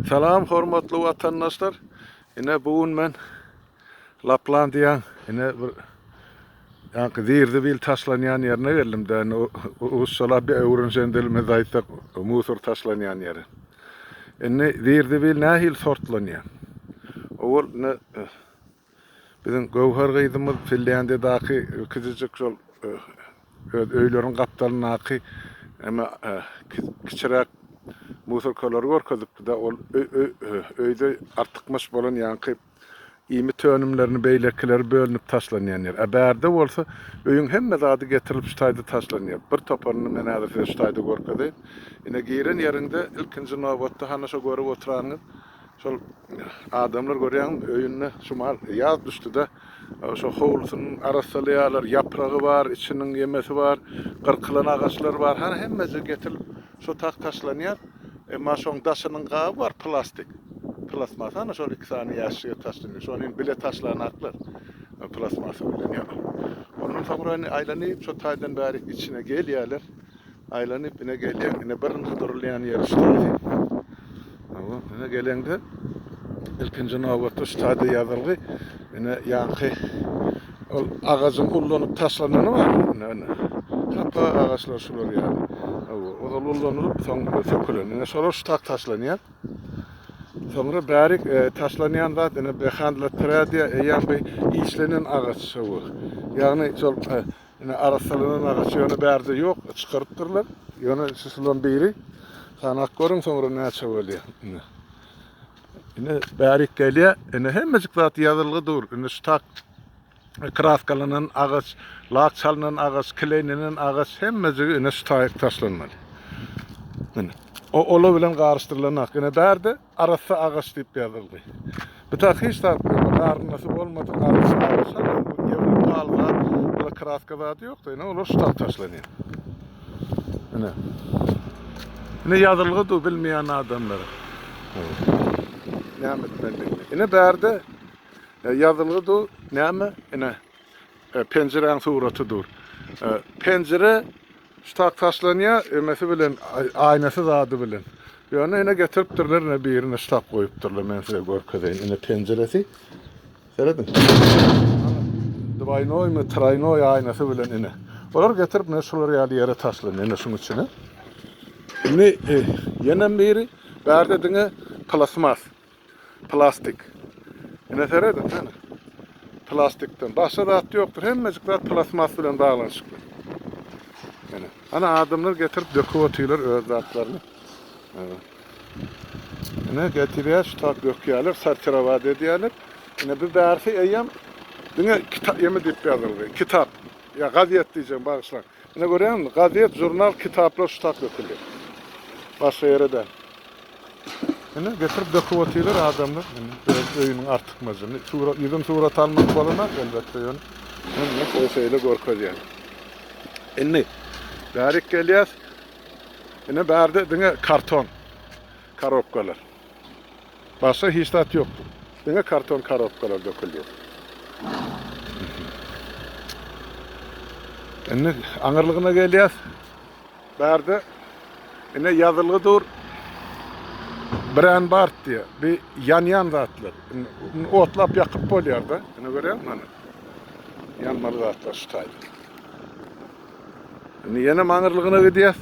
Salam hormatly watandaşlar. Ine bu gün men Laplandiýaň ine bir ýaňky zirzibil taşlanýan ýerine geldim. Däne rusçalap bir öwrenişen dilimizde aýtsak, musor taşlanýan ýere. Indi zirzibil nähili sortlanýar? Owal ine Biziň Göwher gyzymyz Finlýandiýadaky kiçijik şol öz öýleriniň gapdalyndaky eme kiçiräk musorkalary görkezipdi-de, ol öýde artykmaç bolan ýaňky iýmit önümlerini beýlekileri bölünip taşlanýan ýer. Ä bärde bolsa öýüň hemme zady getirilip şu taýda taşlanýar. Bir toparyny men häzir size şu taýda görkezeýin. Ine giren ýeriňde ilkinji nobatda hany şo görüp oturanyňyz Şol adamlar görýäňmi, öýünde şu mal ýaz düşdi-de, şo howlusyny arassalaýarlar, ýapragy bar, içiniň ýemesi bar, gyrkylan agaçlar bar, hany hemmesi getirilip şo tag taşlanýar. Emma şoň daşynyň gaby bar, plastik. Plasmasa hany şol iki sany ýaşjige taşlanýar. Şony indi bile taşlanaklar. Plasmasa bilen ýa. Ondan soňra indi aýlanyp şo taýdan bärik içine gelýärler. Aýlanyp ine gelýän. Ine birinji durulýan ýeri ştazy. Hawa, ine geleňde ilkinji nobatda ştazy ýazylgy. Ine ýanky ol agajyň ullanyp taşlanany bar. Ine, ine. Hapa agaçlar şular ýaly. Hawa, ozal ullanylyp, soň sökülen. Ine şolar ştak taşlanýar. Soňra bärik e, taşlanýan zat ine behandlatradiýa eýýäm bir işlenen agaç şowy. Ýagny şol e, Ine arassalanan agaç ýöne bärde ýok, çykarypdyrlar. Ýöne şu şulan biri sanak görüň soňra näçe bolýar. Ine. Ine bärik gelýär. Ine hemmejik zat ýazylgy dur. Ine şu tak kraskalanan agaç, lak çalynan agaç, kleýlenen agaç hemmejigi ine şu taýyk taşlanmaly. Ine. O ola bilen garyşdyrylan ak. Ine bärde Arassa agaç diýip ýazyldy. Bu tak hiç zat bolmady. Garynasy bolmadyk arassa agaç. Bu ýewro pahaly zat. Bula kraska zady ýokdy. Ine olar şu tak taşlanýar. Ine. Ine ýazylgy du bilmeýän adamlara. Näme etmelidigini. Ine bärde e, ýazylgy du näme? Ine e, penjiräň suraty dur. E, penjire Ştak taşlanýar emesi bilen aýnasy zady bilen. Ýöne ine getiripdirler ine birine ştak goýupdyrlar men size görkezeýin ine penjiresi. Serediň. Dwaýnoý mi traýnoý aýnasy bilen ine. Olar getirip men şular ýaly ýere taşlanýar ine şuň üçin. Indi e, ýenem biri bärde diňe plasmas. Plastik. Ine seredin, hene. Plastikden. Başga zat ýokdur. Hemmejik zat plasmas bilen baglanyşykly. Hene. Ana adamlar getirip döküp otyrlar öz zatlaryny. Hene. Ine getirýär, şu tap dökýärler, sortirowat edýärler. Ine bu bärsi eýýäm diňe kitap ýemi diýip ýazyldy. Kitap. Ýa gazet diýjegim, bagyşlaň. Ine görýäňizmi, gazet, žurnal, kitaplar şu tak döküldi. Başga ýere däl. Ine, getirip döküp otyrlar adamlar. Ine, öz öýüniň artykmajyny. Surat, ýüzin surat almak bolanok, elbetde, ýöne men muňa şeýle görkezýän. Indi, bärik gelýäs. Ine, bärde diňe karton korobkalar. Başga hiç zat ýokdy. Diňe karton korobkalar döküldi. Indi aňyrlygyna gelýäs. Bärde ine ýazylgy dur. Brän bart diýýär. Bi ýanýan zatlar. Otlap ýakyp bolýar-da. Ine görýäňmi hany? Ýanmaly zatlar şu taýda. Indi ýene aňyrlygyna gidýäs.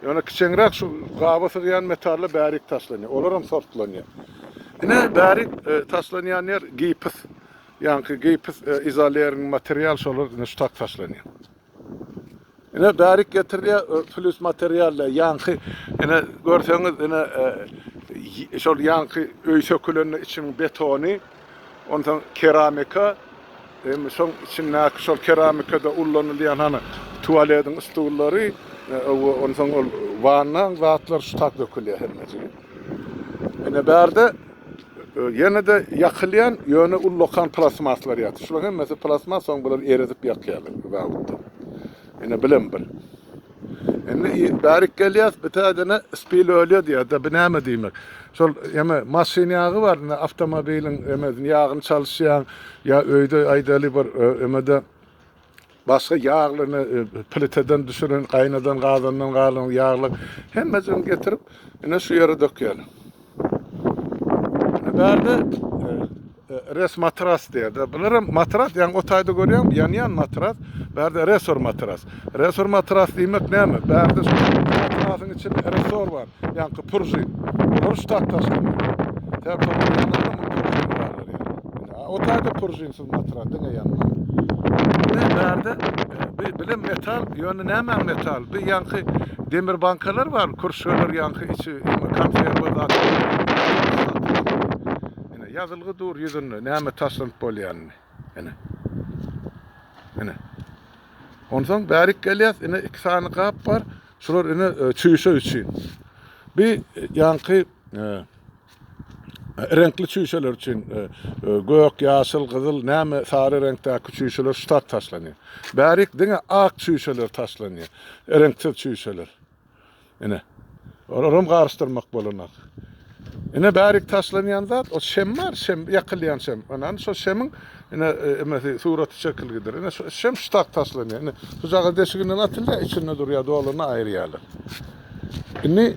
Ýöne kiçeňräk şu gaba sygýan metally bärik taşlanýar. Olar hem sortlanýar. Ine bärik e, taşlanýan ýer gipis. Ýaňky gipis e, izolering material şolar ine şu tak taşlanýar. Ine bärik getirilýär e, plus materiallar ýaňky ine görseňiz ine e, y- şol ýaňky öý sökülende içiniň betony Onsoň keramika, em, şoň içindäki şol keramikada ullanylýan hany tualediň stullary, e, onsoň ol wannaň zatlary şu tak dökülýär hemmejigi. Ine bärde e, ýene-de ýakylýan, ýöne ullakan plastmaslar ýatyr. Şularyň hemmesi plastmas, soň bular eredip ýakýarlar bu babatda. Ine bilen bir. Indi bärik gelýäs, bir täzene spil ölýär diýýär, da bu näme diýmek? Şol eme maşyn ýagy bar, indi awtomobiliň eme ýagyny çalyşýaň, ýa öýde aýdaly bir e, emede başga ýaglyny e, pliteden düşüren, gaýnadan gazandan galan ýaglyk hemmesini getirip ine şu ýere dökýär. Bärde res matras diýerde. Bular hem matras, ýaňy otaýda görýän, ýanýan matras. Bärde resor matras. Resor matras diýmek näme? Bärde şu matrasyň içinde resor bar, ýaňky puržin. Bular ştat taşlamaýar. Täp otaýda puržin Batyra diňe ýanma. Diňe bärde bi bilim metal ýöne nämäň metal bi ýaňky demir bankalar bar kürşgeler ýaňky içi konserwa zat ine ýazylgy dur ýüzünde näme taşlanyp bolýanyny ine ine onsoň bärik gelýäs ine iki sany gap bar şular ine e, çüýşe üçin bi ýaňky e, Reňkli çüýşeler üçin e, e, gök, ýaşyl, gyzyl, näme sary reňkdäki çüýşeler ştat taşlanýar. Bärik diňe ak çüýşeler taşlanýar. Reňksiz çüýşeler. Ine. Olar hem garyşdyrmak bolanak. Ine bärik taşlanýan zat, o şem bar, şem ýakylýan şem. Ine şo şemiň ine e, emesi suraty çekilgidir. Ine şo şem ştat taşlanýar. Ine sujaga deşiginden atylýar, içinde durýar, dolany aýyrýarlar. Indi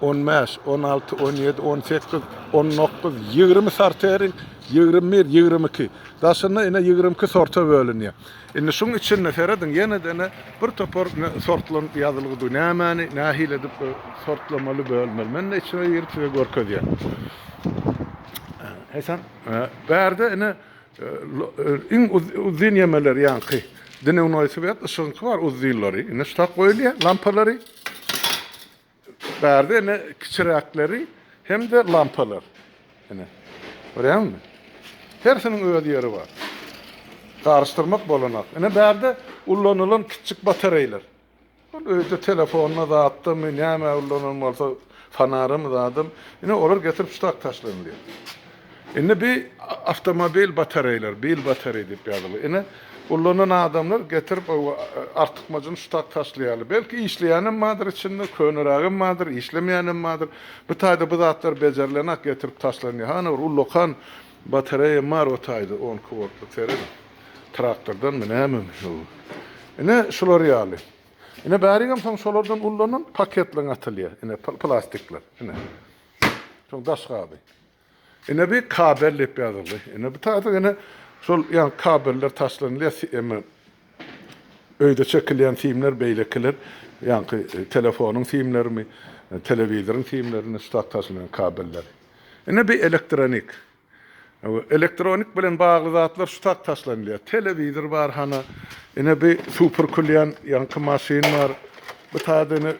On bäş, on alty, on ýedi, on sekiz, on dokuz, ýigrimi sorteriň, ýigrimi bir, ýigrimi iki. Daşynda ine ýigrimi iki sorta bölünýär. Indi şuň içinde serediň, ýene-de ine bir topar sortlar ýazylgydy. Nämäni, nähili edip sortlamaly, bölmeli. Men-de içine girip size görkezýän. Eýsem, bärde ine Iň uzyn ýemeler ýaňky dnewnoý swet, yşygynky bar uzynlary, ine şutak goýulýar lampalary. Bärde ine kiçiräkleri hem-de lampalar. Ine. Görýäňmi? Hersiniň öz ýeri bar. Garyşdyrmak bolanak. Ine bärde ulanylan kiçjik batareýler. Ol öýde telefonda zatdamy, nämä ullanan bolsa, fanaramy zadam, ine, olar getirip ştak taşlanylýar. Indi bi awtomobil batareýleri, bil batareý diýip ýazylýar. Ine, ullanan adamlar getirip o artykmajyny ştak taşlaýarlar. Belki işleýänem bardyr içinde, könerägem bardyr, işlemeýänem bardyr. Bu taýda bu zatlar bejerilenak getirip taşlanýar. Hany bir ullakan batareýam bar o taýda, on iki woltlyk, serediň. Traktordan münämem şu. Ine şular ýaly. Ine bärigem soň şolardan ullanan paketleň atylýar. Ine plastikler. Ine. Soň daş gaby. Ine bir kabel diýip ýazyldy. Ine bu taýda ine şol ýa kabeller taşlanylýar. Eme öýde çekilýän simler beýlekiler. Ýaňky e, telefonyň simlerimi, e, telewizoryň simlerini ştat taşlanan kabeller. Ine bir elektronik. Elektronik bilen bagly zatlar şu tak taşlanylýar. Telewizor bar hana. Ine bi super külýän ýaňky maşyn bar. Bu taýda ine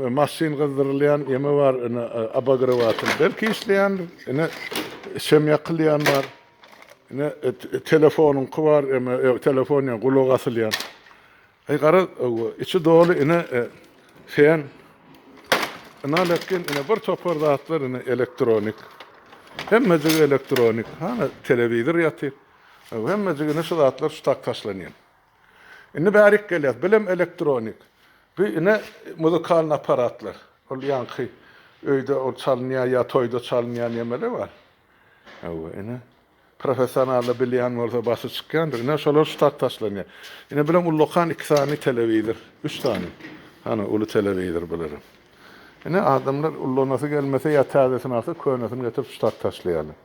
maşyn gyzdyrylýan ýeme bar. Ine abagrewatl belki işleýändir. Ine şem ýakylýan bar. Ine telefonyňky bar, eme telefon ýa gulak asylýan. Eý garaz owo içi doly ine sen ynal etgin ine bir topar zatlar ine elektronik hemmejigi elektronik hana telewizor ýatyr ow hemmejigi ine şu zatlar şu tak taşlanýan indi bärik gelýär bilem elektronik bu ine muzykalny aparatlar ol ýaňky öýde ol çalynýar ýa toýda çalynýar nemeler bar owo ine Professionally bilýän bolsa basy çykýandyr. Ine şolar ştat taşlanýar. Ine bilen ullakan iki sany telewizor. Üç sany. Hany uly telewizor bularem. Ine adamlar ullanasy gelmese ýa täzesini alsa könesini getirip ştat taşlaýarlar.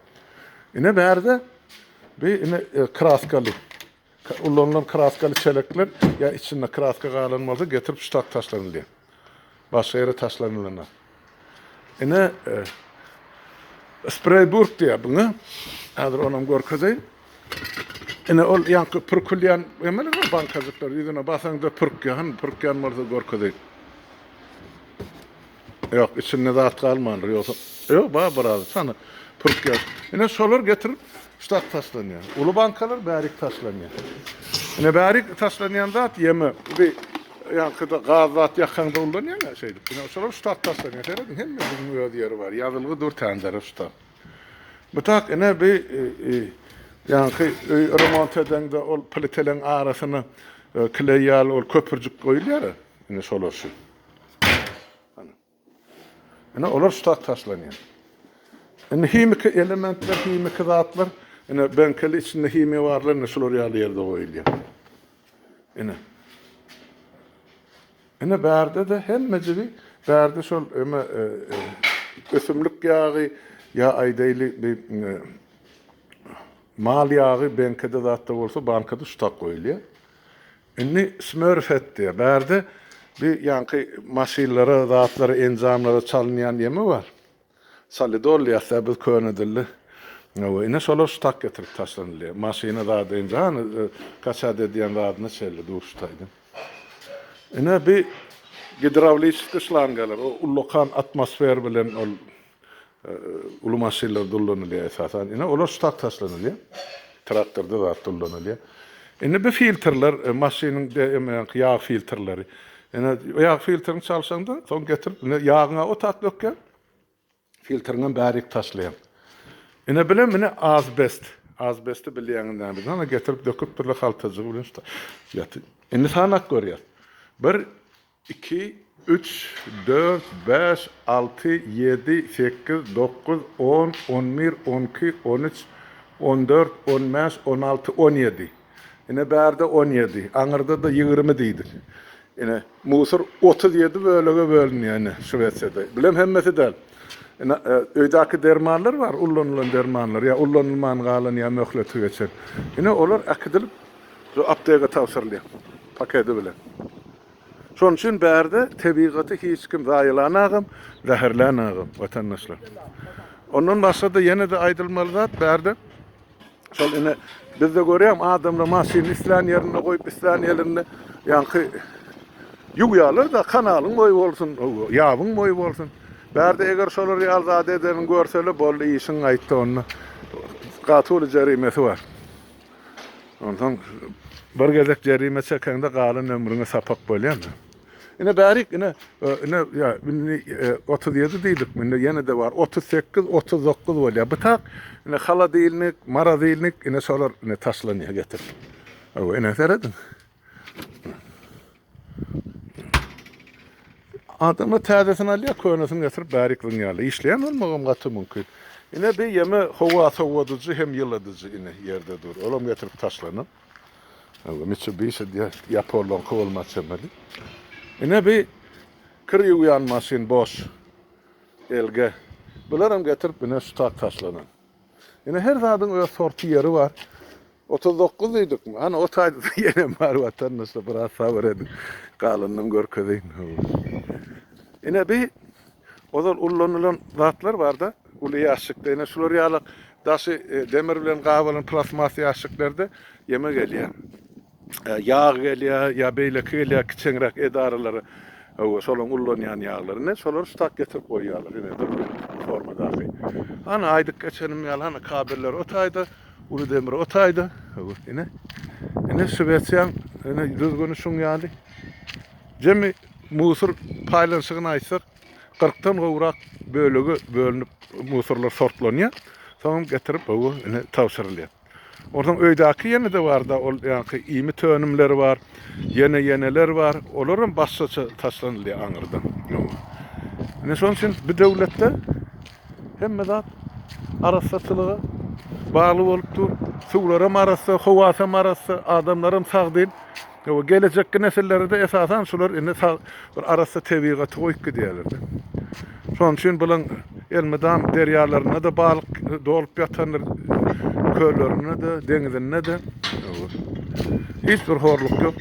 Ine bärde bi ine kraskaly. Ulanylan kraskaly çelekler ýa içinde kraska galan bolsa getirip ştat taşlanylýar. Başga ýere taşlanylanyar. Ine Spray burk diýär buňa. Häzir onam görkezeýin. Ine ol ýaňky pürkülýän emeli bu bankajyklar ýüzüne basaňda pürkýän, pürkýän bolsa görkezeýin. Ýok, içinde zat galmandyr, ýogsa. Ýok, bar biraz, çany pürkýär. Ine, şolar getirip ştap taşlanýar. Uly bankalar bärik taşlanýar. Ine, bärik taşlanýan zat ýeme. Bi ýankyda gaz zat ýakaňda ulanýaň-a şeýdip. Ine, şolar ştap taşlanýar. Serediň, hemmesiniň öz ýeri bar. Ýazylgy dur tändere ştap. Bu tak, ine, bi ýanky öý remont edeňde ol pliteleň arasyna kleý ýaly ol köpürjik goýulýar-a. Ine, şolar şu. Ine olar ştat taşlanýar. Indi himiki elementler, himiki zatlar, ine benkeli içinde himiýa barlar, ine şular ýaly ýerde goýulýar. Ine. Ine bärde de hemmejigi bärde şol eme e, e, ösümlik ýagy ýa aýdaýly bir e, mal ýagy benkede zatda bolsa bankada ştat goýulýar. Indi Smurfette, bärde bi ýaňky maşynlara, zatlara, enjamlara çalynýan ýeme bar. Solidol diýäs-dä biz köne dilde. Hawa, ine şolar ştak getirip taşlanylýar. Maşyna zat enja, hany, e, kaçat edýän zadyna çenli duşdaýda. Ine bi gidrawliçeskiý şlangalar, o ullakan atmosfer bilen ol Uly maşynlar dollanylýar esasan. Ine olar ştat taşlanylýar. Traktorda zat dollanylýar. Indi bu filtrler e, maşynyň DMM-ki ýag filtrleri. Ine ýag filtrini çalşaňda, soň getirip ine ýagyňa ot at dökýär. Filtriňem bärik taşlaýar. Ine bilen mine azbest. Azbesti bilýäňiz näme? Ana getirip döküpdirler haltajygy bilen şta. Ýaty. Indi sanak görýär. Bir Iki, üç, dört, bäş, alty, ýedi, sekiz, dokuz, on, on bir, on iki, on üç, on dört, on bäş, on alty, on ýedi. Ine, bärde on ýedi. Aňyrda-da ýigrimi diýdik. Ine, musor otuz ýedi bölege bölünýär, ine, Şwesiýada. Bulam hemmesi däl. Ine, öýdäki dermanlar bar, ullanylan dermanlar, ýa ullanylman galan, ýa möhleti geçen. Ine, olar äkidilip, şu apteka tabşyrylýar, paketi bilen. Şonuň üçin bärde tebigaty hiç kim zaýalanagam, zäherlänagam, watandaşlar. Ondan başga-da ýene-de aýdylmaly zat bärde şol ine bizde görýäň adamlar maşyny islän ýerinde goýup, islän ýerinde ýaňky ýuwýarlar-da kanalyň boýy bolsun, ýabyň boýy bolsun. Bärde eger şolar ýaly zat edeni görseler boldy işiň gaýtdy onda gaty uly jerimesi bar. Ondan bir gezek jerime çekeňde galan ömrüňe sapak bolýar. Ine bärik ine ine ýa indi 37 diýdik, indi ýene de bar 38, 39 bolýar. Bu tak ine haladilnik, maradilnik ine şolar ine taşlanýar getirip. Aw ine serediň. Adamlar täzesini alýar, könesini getirip bärik zyňýarlar. Işleýän bolmagam gaty mümkin. Ine bir ýeme howa sowadyjy hem ýyladyjy ine ýerde dur. Olam getirip taşlanyp. Aga Mitsubishi diýär, ýaponlaryňky bolmaly çemeli. Ine bir kir ýuwýan maşyn boş. LG. Bularam getirip ine şu tak taşlanan. Ine her zadyň öz sorty ýeri bar. Otuz dokuz diýdikmi? Hany otaýda-da ýenem bar watandaşlar biraz sabyr ediň. Galanynam görkezeýin. Ine bi ozal ullanylan zatlar barda, uly ýaşşykda ine şular ýaly daşy demir bilen gabalan plastmas ýaşşyklarda ýeme gelýär. Ýag gelýär ýa beýleki gelýär kiçeňräk edaralara. Hawa, şolaryň ullanýan ýaglary. Ine şolary ştat getirip goýýarlar. Ine durmuş formadaky. Hany aýdyp geçenim ýaly hany kabelleri otaýda. Uly demir o taýda. Ine. Ine Şwesiýaň ine düzgüni şuň ýaly. Jemi musur paýlanyşygyny aýtsak, 40 dan gowrak bölege bölünip musurlar sortlanýar. Soňam getirip bu ine tabşyrylýar. Oradan öýdäki ýene de bar da, ol ýaňky iýmit tönümleri bar, ýene ýeneler bar. Olaram başgaça taşlanylýar aňyrdan. Ine şoň üçin bu döwletde Hemme zat arassaçylyga bagly bolup dur. Suwlaram arassa, howasam arassa, adamlaram sagdyn. Ýa gelejekki nesillere-de esasan şular indi sag bir arassa tebigaty goýup gidýärler-de. Şonuň üçin bulan elmydam derýalarynda-da balyk dolup ýatandyr, köllerinde-de, deňizinde-de. Hiç bir horluk ýok.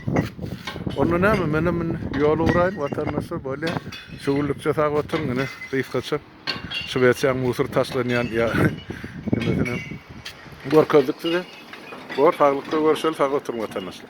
Onda näme, menem indi ýola uraýyn, watandaşlar, bolýa. Şu gullikçe sag oturyň ine gysgaça şu beçäň musur taşlanýan ýa nemesinem görkezdik size. Bor saglykda görüşeli sag oturyň watandaşlar.